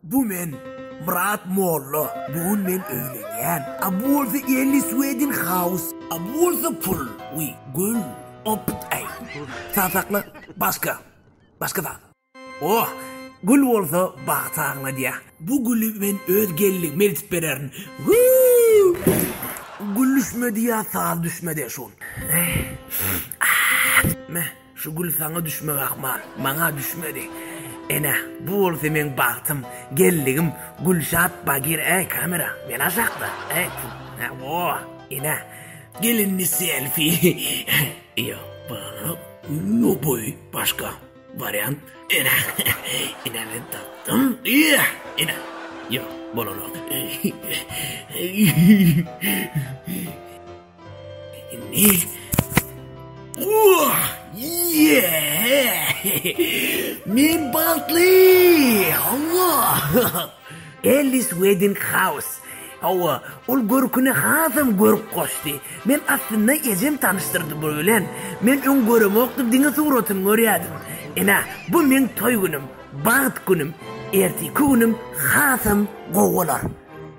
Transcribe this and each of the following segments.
Bu men Myrat molla. Bu gün men öýlenýän. A bu bolsa Elli Swedin Haus. A bu bolsa pul. We gül. Opt ay. Sa sakla. Başka. Başka zat. Oh! Gül bolsa bagty aňladýa. Bu güli men öz gelnigime eltip bererin. Wuu! Gül düşmedi ýa saz düşmedi şol. Meh. Şu gül saňa düşmek ahmal, maňa düşmedi. Ene, bu bolsa meň bagtym, gelnigim Gülşat Bagir Äý, kamera, men aşakda, äý, pu, hä, o, ene, gelinli selfi, ýo, baglanyp, ýo, boý, başga, wariant, ene, ene, men tapdym, ýe, ene, ýo, bolanok, äý, äý. Men bagtly! Hawa! Ellis Wedding House. Hawa, ol görküne hasam görk goşdy. Men aslynda ejem tanyşdyrdy bu bilen. Men öň göremokdym, diňe suratyny görýärdim. Ine, bu meň toý günüm, bagt günüm. Erteki günüm hasam gowy bolar.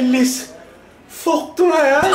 Ellis sokdum aýal.